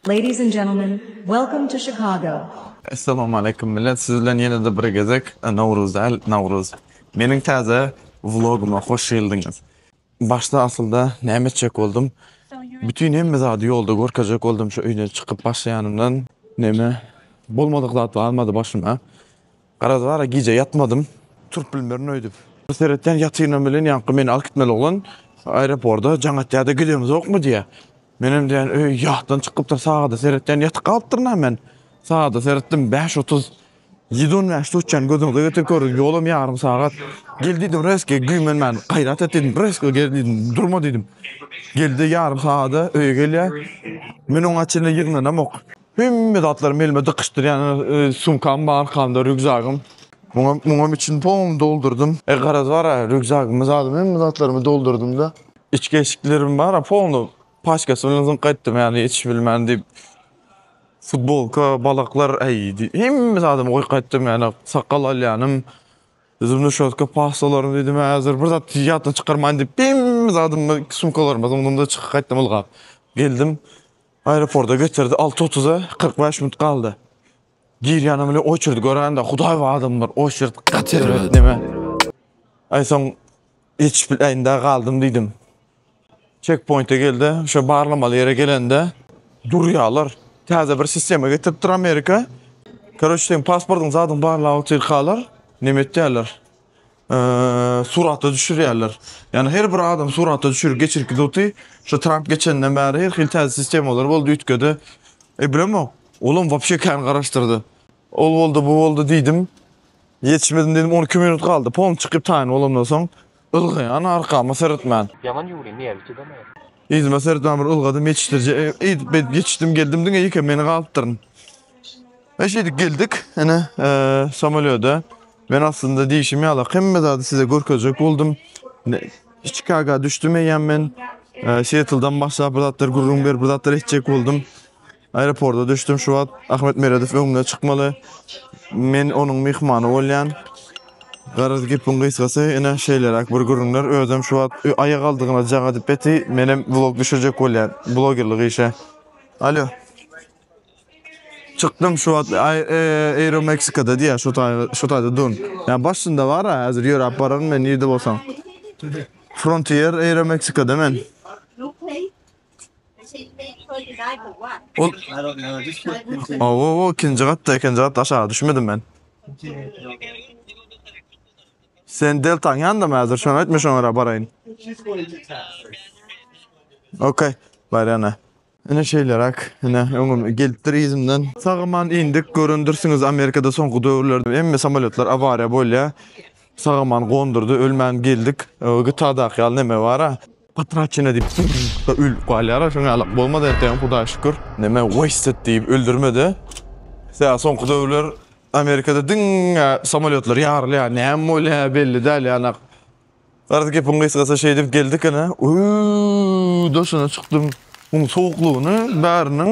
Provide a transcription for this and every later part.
Ladies and gentlemen, welcome to Chicago. Essalamu Aleýkum Millet, siz bilen ýene-de bir gezek Nowruz däl, Nawruz. Meniň täze vlogyma hoş geldiňiz. Başda asylda näme etjek boldum? Bütin hemme zady ýolda görkezjek boldum şu öýden çykyp başlaýanymdan. Näme, bolmadyk zat barmady başyma. Garaz bara gije ýatmadym. Turup bilmerin öýdüp. Bir seretýän ýatynam bilen ýaňky meni alyp gitmeli oglan aeroporda jaň atýada gidemizokmy diýýä. Menem diýýän öý ýatdan çykypdyr sagada seretýän ýatyp galypdyrynam men. Sagada seretdim bäş otuz. Ýedi on bäş tutýan gözüňize getirip görüň ýolam ýarym sagat. Gel diýdim reski güýmenmän gaýrat et diýdim reski gel diýdim durma diýdim. Geldi ýarym sagada öýe gelýä. Men oňa çenli ýygnanamok. Hemme zatlarym elime dykyşdyrýan, sumkam bar arkamda, rýukzagym. Muňa, muňam içini tom doldurdym. E, garaz bar, rýukzagymy zadym, hemme zatlarymy doldurdym-da. Içki eşiklerim bar, pony paçkasy bilen zyňyp gaýtdym, ýagny içi bilmän diýip. Futbolka, balaklar, äý, hemme zadymy goýup gaýtdym, ýagny sakgal alýanym, zubny şotka, pastalarym diýdim, häzir bir zat ýatdan çykarmaýyn diýip, hemme zadymy sumkalaryma zyňdym-da, çykyp gaýtdym ylgap. Geldim. Aeroporda getirdi alty otuza kyrk bäş minut galdy. Girýänem bile oçerd görende hudaý bu adamlar oçerd gaty erbet neme. Aý soň geçip biläýin-dä galdym diýdim. Çekpoýnte geldi, şo barlamaly ýere gelende durýarlar. Täze bir sistema getiripdir Amerika. Karoç seň pasportyň zadyň barlap otyrkalar neme etýärler. surata düşürýärler. Ýani her bir adam surata düşür geçirki zuty şu Trump geçenden bäri her hil täze sistemalar boldy üýtgedi. E bilemok. Olam wapşe kän garaşdyrdy. Ol boldy, bu boldy diýdim. Ýetişmedim diýdim, 12 minut galdy. Pom çykyp taýyn bolandan soň ylgaýan arkama seretmän. Ýaman ýuwly, nerwi çydamaýar. Yzyma sertmän bir ylgadym, ýetişdirije eýdip beýdip ýetişdim geldim diňe ýekem meni galypdyryn. E şeýdip geldik, ene samolýoda. Men aslynda diýişim ýaly hemme zady size görkezjek boldum. Çikaga düşdüm eýýäm men. Seattle'dan başlap bir zatlar gürrüň berip bir zatlar etjek boldum. Aeroporda düşdüm şu wagt. Ahmet Meredow öňüme çykmaly. Men onuň myhmany bolýan. Garaz gepiň gysgasy ine şeýleräk bir gürrüňler. Özem şu wagt aýagaldygyna jaga edip beti. Menem vlog düşürjek bolýan blogerlik işe. Alo. Çykdym şu wagt Aero Meksikada diýýär şu taýy şu taýda dun. Ýa başynda bar a häzir ýöräp bararyn men nirde bolsaň. Frontier Aero Meksikada men. Owowo ikinji gatda ikinji gatda aşaga düşmedim men. Sen deltaň ýanda mı hazır? Şonu etme şoňa göre barayın. Okey. Barana. Ine şeýleräk, ine öňüm gelipdir yzymdan. Sagaman indik, görendirsiňiz Amerikada soňky döwürlerde hemme samolýotlar awariýa bolýar. Sagaman gondurdy, ölmän geldik. GTA-daky ýaly neme bar-a? Potraçena diýip zyrrrda ölüp galýara şoň ýaly bolmaz entegem hudaýa şükür. Neme wasted diýip öldürmedi. Tä soňky döwürler Amerikada diňe samolýotlar ýarylýar näme bolýar belli däl ýanak. Garaz gepiň gysgasy şeýdip geldik ene öööw daşyna çykdym muň sowuklygyny bäriniň.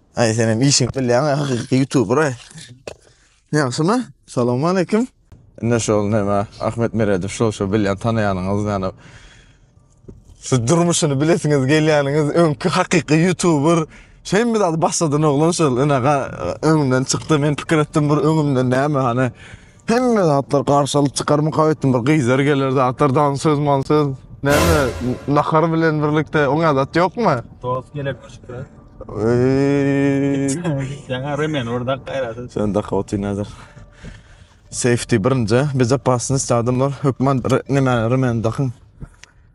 Ay senem işiňi bilýäň, hakyky youtuber ay. Ýagşymy? Salam aleyküm. Indi şol näme Ahmet Meredow şol şol bilýän tanaýanyňyz ýany şu durmuşyny bilesiňiz gelýäniňiz öňki hakyky youtuber şeými zady başladan oglan şol ene öňümden çykdy men pikir etdim bir öňümden näme hany Hemme zatlar garşalyk çykarmyka etdim. Bir gyzlar geler zatlar dan söz man söz. Näme nahar bilen birlikde oň adat ýokmy? Dost gelip düşüpdi. Eee. Sen remen orada gaýratyn. Sen de hawty nazar. Safety birinji, bezopasnost adamlar hökman re- neme remen dakyn.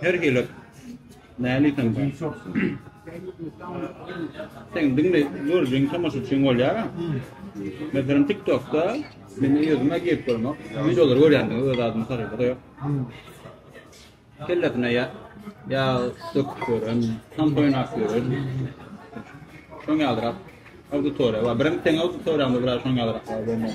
Her hili näli sen sen. Sen dinle görjün tamaşa üçin bolýar. Meselem TikTokda men ýüzüme girip görmek. Videolar görýändim öz adymy sarýar. Yok. Kelletine ya ya söküp gören, tam oynap gören. Şoň ýalyrak auditoriýa bar. Birinji sen auditoriýamda biraz şoň ýalyrak bar bolmak.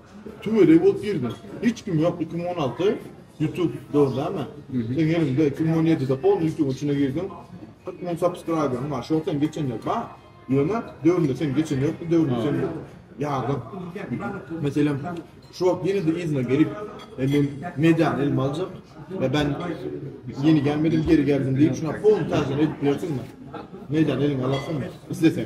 Tüwelegi bolup girdim. Hiç kim ýok iki müň on alty youtube dor dämi? Seň eliňde iki müň on ýedide poly youtube içine girdim. Kyrk müň subscriberym bar. Şol sen geçen ýyl bar. Ýöne döwründe sen geçen ýokdy döwründe sen ýardyň. Meselem şu wagt ýene-de yzyna gelip men mediany elime aljak we ben ýeni gelmedim geri geldim diýip şuna poly täzeden edip bilersiňmi? Mediany eliňe alarsyňmy? Isleseň.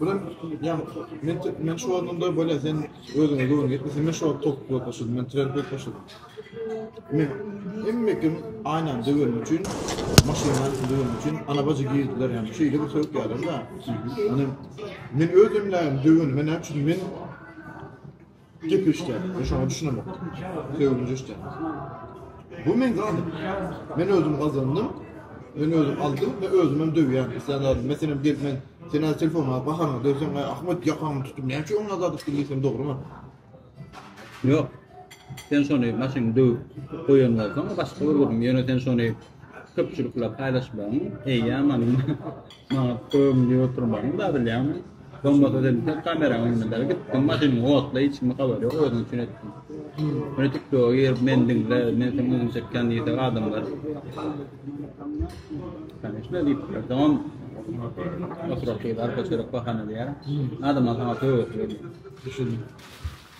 Bilen ýan men men şu ornunda bolýa sen özüňe göwün ýetme sen men şu wagt top bolup başladym men trend bolup başladym. Men hemme kim aýnan döwen üçin maşyndan döwen üçin ana bajy girdiler ýa şeýle bir söwk ýalar da. Ýani men özüm bilen döwen men näçe men Gep eşitýän, men şoňa düşünemokdym. Söýgünji eşitýän. Bu meň zadym. Men özüm gazandym, men özüm aldym, men özüm hem döwýän. Isleýän zadym, men senem gelip, men sen az telefon alyp, bahanyňy döwseň, aý, Ahmet, ýakaňy tutup, näme üçin oňa zat etdiň diýsem, dogrumy? Ýok. Sen şony maşyny döwüp goýan bolsaň, başga bir gürrüň. Ýöne sen şony köpçülikle paýlaşmagyň eýýämam maňa köwümli oturmagyny dadylýaryn. Bolmasa diýseň kameraň öňünde gitdim maşynymy otla hiç kime habar ýok özüň üçin etdim. Meni tiktoga girip meni diňle men seň özüň çekýän diýse adamlar Kanyşna diýip tamam oturak gyz arka çörek bahana diýer. Adamlar saňa töwesi gelýär. Düşündim.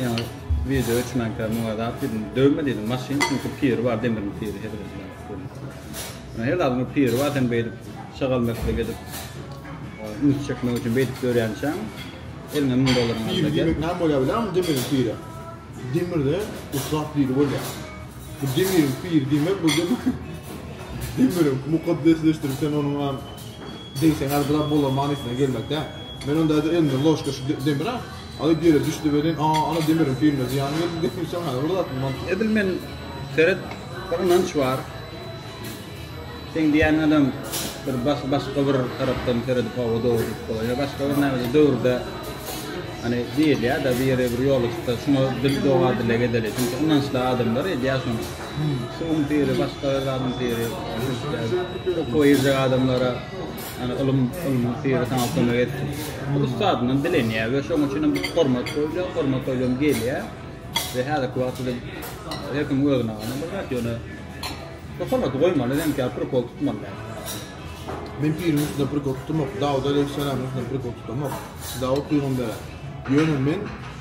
Ýaňy wideo üçinkä muňa edap diýdim. Döwme diýdim maşyn çünki piri bar demir piri hezret diýdim. Her zadyň piri bar sen beýdip şagal mekdep edip üns çekmek üçin beýdip dörýänçäň eliňe müň dollaryň alsa gel. Piri näme bolýar bilýärmi demir piri. Demirde ussat biri bolýar. Bu demir piri diýmek bu demir mukaddesleşdirip sen onuň Degseňer biraz bolar manysyna gelmek däl. Men onda häzir elimden ložka şu demir-ä alyp ýere düşdi welin, a, ana demiriň piline zyýan geldi diýip gitseň häzir bir zat bilmän. Edil men, seret, bir ynanç bar. Seň diýýän adam bir başga bir tarapdan seredip hawa dogry diýip bolar. Ýa başga bir nämedir döwürde hany diýilýä-de bir ýere bir ýola çyksa şuňa dil doga dilek edeli. Çünki ynançly adamlar edýä şony. Suwuň syry, başga zadyň syry, okuwa girjek adamlara ýagny ylym, ylmyň syry saňa kömek etsin. Ussadyndan dilenýär we şonuň üçinem bu hormat goýulýar, hormat goýulan gelýär we häzirki wagtda da her kim özüne gana bir zat, ýöne bu hormaty goýmaly, demek ýaly prikol tutmaly däl. Men piriň üstüne prikol tutamok, Dawut aleýhissalamyň üstüne prikol tutamok, Dawut pygambere. Ýöne men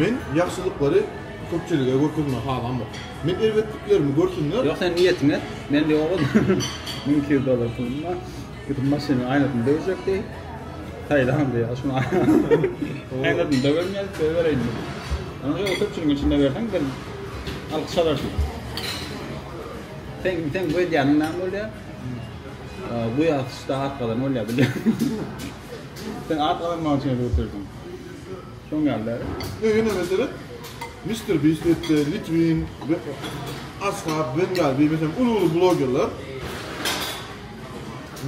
Men ýagşylyklary köpçülige görkezmegi halamok. Men erbetliklerimi görsünler. Ýok sen niýetiňi et. Men diýip oguz müň iki ýüz dollar pulumla gidip maşynyň aýnasyny döwjek diýip saýlan diýip şuny aýnasyny döwerin ýa-da söýebereýin diýip. Onuň ýaly köpçüligiň içinde berseň bir alkyş alarsyň. Seň seň bu edýäniň näme bolýa? Bu ýazyşda at gazan bolýa bilýän. Sen at gazanmak üçin edip oturýarsyň. Şoň ýaly däl. Ýöne ýene meselem, Mister Beast etde, Litwin, Ashab, Wen ýaly bir meselem uly-uly blogerler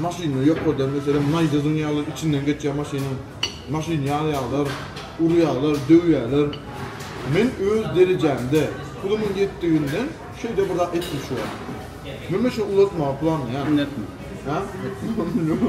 maşyny ýokardan meselem naýzasyň ýaly içinden geçýär maşynyň. Maşyny ýalaýarlar, urýarlar, döwýärler. Men öz derejämde, pulumyň ýetdiginden şeýle bir zat etdim şu wagt. Men maşyny ulaltmagy planlaýaryn. Indi etme. Hä? Etme.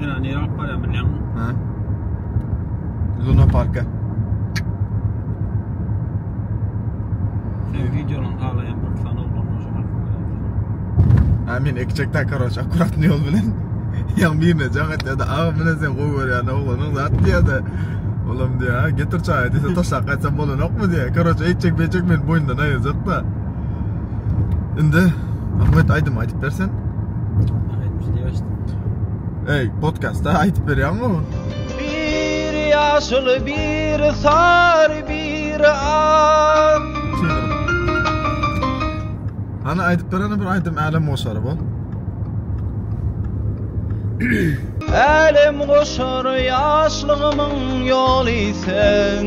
Ýöne nirä alyp barýan bilýäňmi? Hä? Luna parka. Sen videolarny halaýan bir sany oglanlar şoňa görýän. Ha men ekjekde karoç akkuratny ýol bilen. Ýa birine jagat ýa-da agy bilen sen gowy görýän oglanyň zat diýýär-de. Olam diýýär, getir çaýy diýse taşlap gaýtsam bolanokmy diýýär. Karoç eýtjek beýtjek meni boýundan aýyrjak-da. Indi Ahmet aýdym aýdyp bersen. Aýdyp diýip açdym. Ey, podcastda aýdyp berýäňmi? Bir ýaşyl, bir sar, bir ak. Ana aýdyp berene bir aýdym Älem goşary bu. Älem goşary ýaşlygymyň ýoly sen.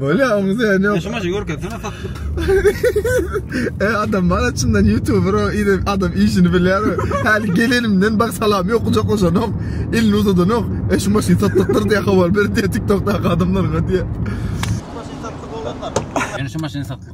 Bolýa oňa sen ýok. Şumaşy görkezsene satlyk. e adam bar içinden youtuber o ile adam işini bilýär. Häli gelenimden bak salam ýok kucaklaşanok. Elini uzadanok. E şu maşyn satlykdyr diýe habar berip diýe TikTokdaky adamlaryňa diýe. Şu maşyn satlyk olanlar. Ýöne şu maşyn satlyk.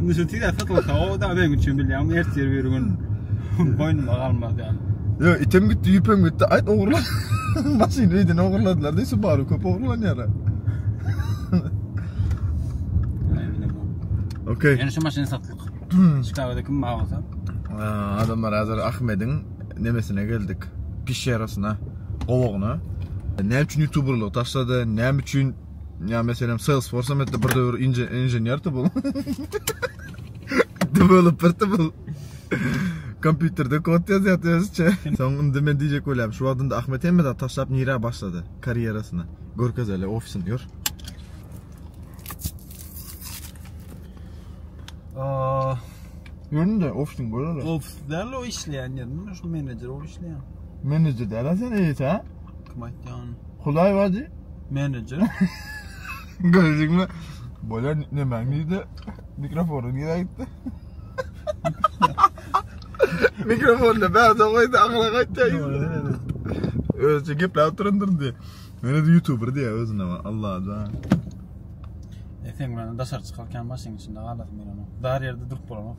Indi şu tiz satylsa o da benim üçin bilýän ertir bir gün boýnuma galmaz ýaly. Yo item gitdi, ýüpem gitdi. Aýt ogurlan. Maşyn öýden ogurladylar diýip şu bary köp ogurlanýar. Okey. Ýöne şu maşyn satlyk. Çikagada kim bar bolsa. Adamlar hazır Ahmediň nemesine geldik. Pişerasyna, gowagyna. Näme üçin youtuberlygy taşlady? Näme üçin Ya meselem Salesforce hem etti bir döwür inženerdi bu. Developerdi bu. Kompýuterde kod ýazýardy özçe. Soň indi men diýjek bolýarym, şu wagtynda Ahmet hemme zat taşlap nirä başlady karýerasyny. Görkez hele ofisini gör. Aa, Göründe ofisini görele. Ofis däl o işleýän ýerim, şu menejer o işleýän. Menejer däl sen eýse. Kim aýtdy ýa ony? Hudaý bardy. Menejer. Görüjiňmi? Bolýar nemäň diýdi. Mikrofony nirä gitdi? Mikrofony bärde goýdy, ahyra gaýtýar. Özüçe gepläp oturandyr diýdi. Meni de youtuber diýýär özüne. Allaja. E sen bilen daşary çykarkam maşynyň içinde galaryn men onuň. Dar ýerde durup bolanok.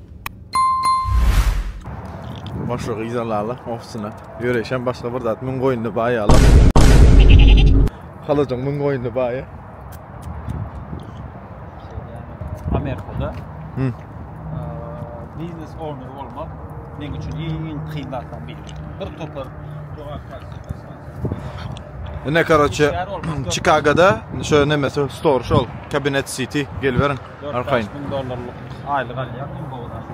Başlygy izalaly ofisine. Ýöreýşem başga bir zat. Müň goýunly baý ýaly. Halyjyň müň goýunly baýy. Amerikada Hı. eee, biznes owner bolmak meň üçin iň kyn zatlaryň biri. Bir topar jogapkär Ine, karoçe, Çikagoda şo neme, stor şol, Cabinet City, geliberiň. Arkaýyn. Dört-bäş müň dollarlyk aýlyk alýar iň gowy zat.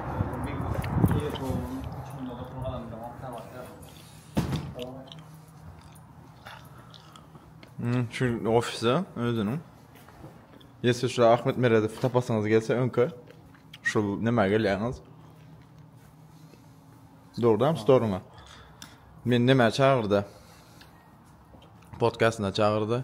Hmm, şu ofise özüniň. Ýesi şu Ahmet Meredow tapasyňyz gelse öňke şu näme gelýäňiz? Dogdam storyňa. Men näme çagyrdy? Podkastyna çagyrdy.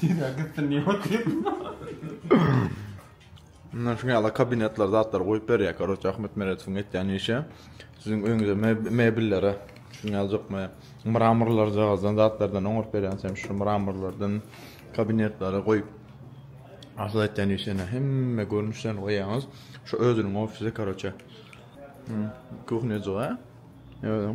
Tizden gitsin diýip otyrdym. Mundan şuňa ýala kabinetler zatlar goýup berýär. Koroç Ahmet Meredowyň etýän işi. Siziň öýüňize mebellere şuny aljakmy? Mramorlar jagazdan zatlardan oňaryp berýän sen şu mramorlardan kabinetlere goýup. Asyl etýän işi ene hemme görnüşden goýýaňyz. Şu özüniň ofisi koroçe. Kuhnejyga. Ýa.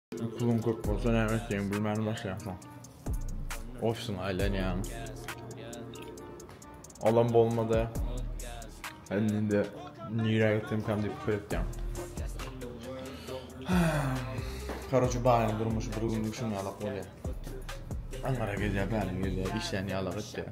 Puluň köp bolsa näme etjegini bilmän başlaýarsyň. Ofisiňe aýlanýaň. Olam bolmady. Indi indi nirä gitsem kam diýip pikir etýäň. Karoçe baýyň durmuşy bir günlük şuň ýalak bolýar. Aňňara gelýär, bäri gelýär, işlän ýalak etýär.